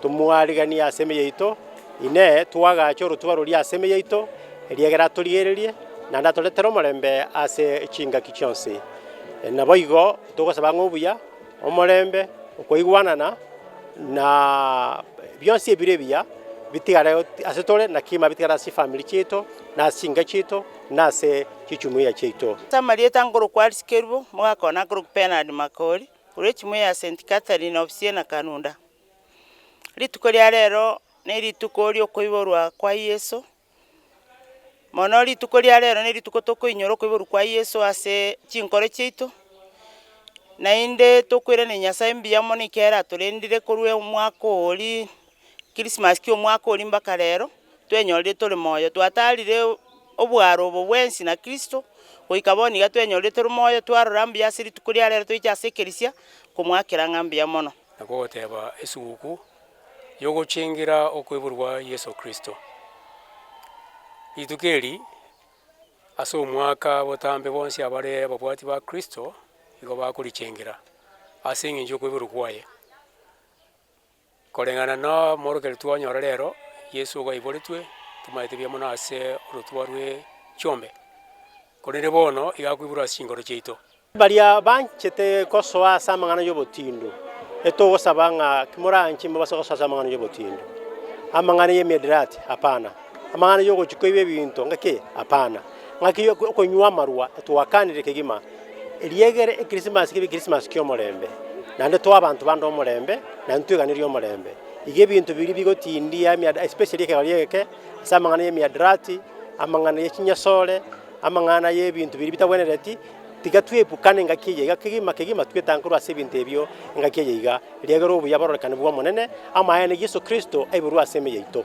Tomwariganie ase emeye yaito, Inee, twagacha orotuba roria ase emeye yaito, eriagera atorigererie, naende atoretera omorembe ase chingaki chionsi? Naboigo togosaba ng'a obuya, omorembe, okwaigwanana, na bionsi ebire ebiya bitigare ase tore na kegima bitigare ase chifamiri chiaito, na ase chinka chiaito, na ase chijumuiya chiaito. Ase amarieta nkorokwa Arisikerubo, mogakoa na nkorokwa Bernard Makori, Korwa echimuye ya Saint Catherine of Siena Kanunda. Rituko ria rero ne rituko riokoiborwa kwa Yeso, mono rituko ria rero ne rituko tokoinyora okoiborwa kwa Yeso ase chinkoro chiaito, naende tokweranera Nyasae mbuya mono ekero aratorendire korwa omwaka oria. Christmas kia omwaka oria mpaka rero, twenyorire tore moyo. Twatarire obwaro obo bwensi na Kristo, goika bono iga twenyorire tore moyo, twarora mbuya ase rituko ria rero toiche ase ekerisia komoakera ng'a mbuya mono. Na kogoteba esuguku yogochengera okoiborwa Yeso Kristo. Rituko eri ase omwaka botambe bonsi abare ababwati ba Kristo igo bakorichengera ase engencho yokoiborwa kwaye. Koreng'ana nomorokeretu onyore rero, Yeso igo aiboretwe, tomaete buya mono ase orotuba rwe chiombe, korende bono iga akoiborwa ase chinkoro chiaito. Baria banchete gosoa ase amang'ana y'obotindu, etogosaba ng'a timoranche mbabase gosoa ase amang'ana y'obotindu, amang'ana y'emiadarati, hapana. Amang'ana y'ogochia koiba ebinto ngaki? Hapana! Ngaki y'okonywa amarwa etwakanire kegima, eriegere Ekrisimasi kebe Ekrisimasi ki'omorembe, naende toa abanto bande omorembe, naende tweganerie omorembe. Iga ebinto biria bigotindia emiadra-, especially ekegari eke, ase amang'ana y'emiadarati, amang'ana ye chinyasore, amang'ana y'ebinto biria bitagwenereti, tiga twebukane ngaki eye iga kegima kegima twetange korwa ase ebinto ebio engaki eye iga, eriegere obuya bororekane bw'Omonene, amaene a Yeso Kristo aiborwe ase ime yaito.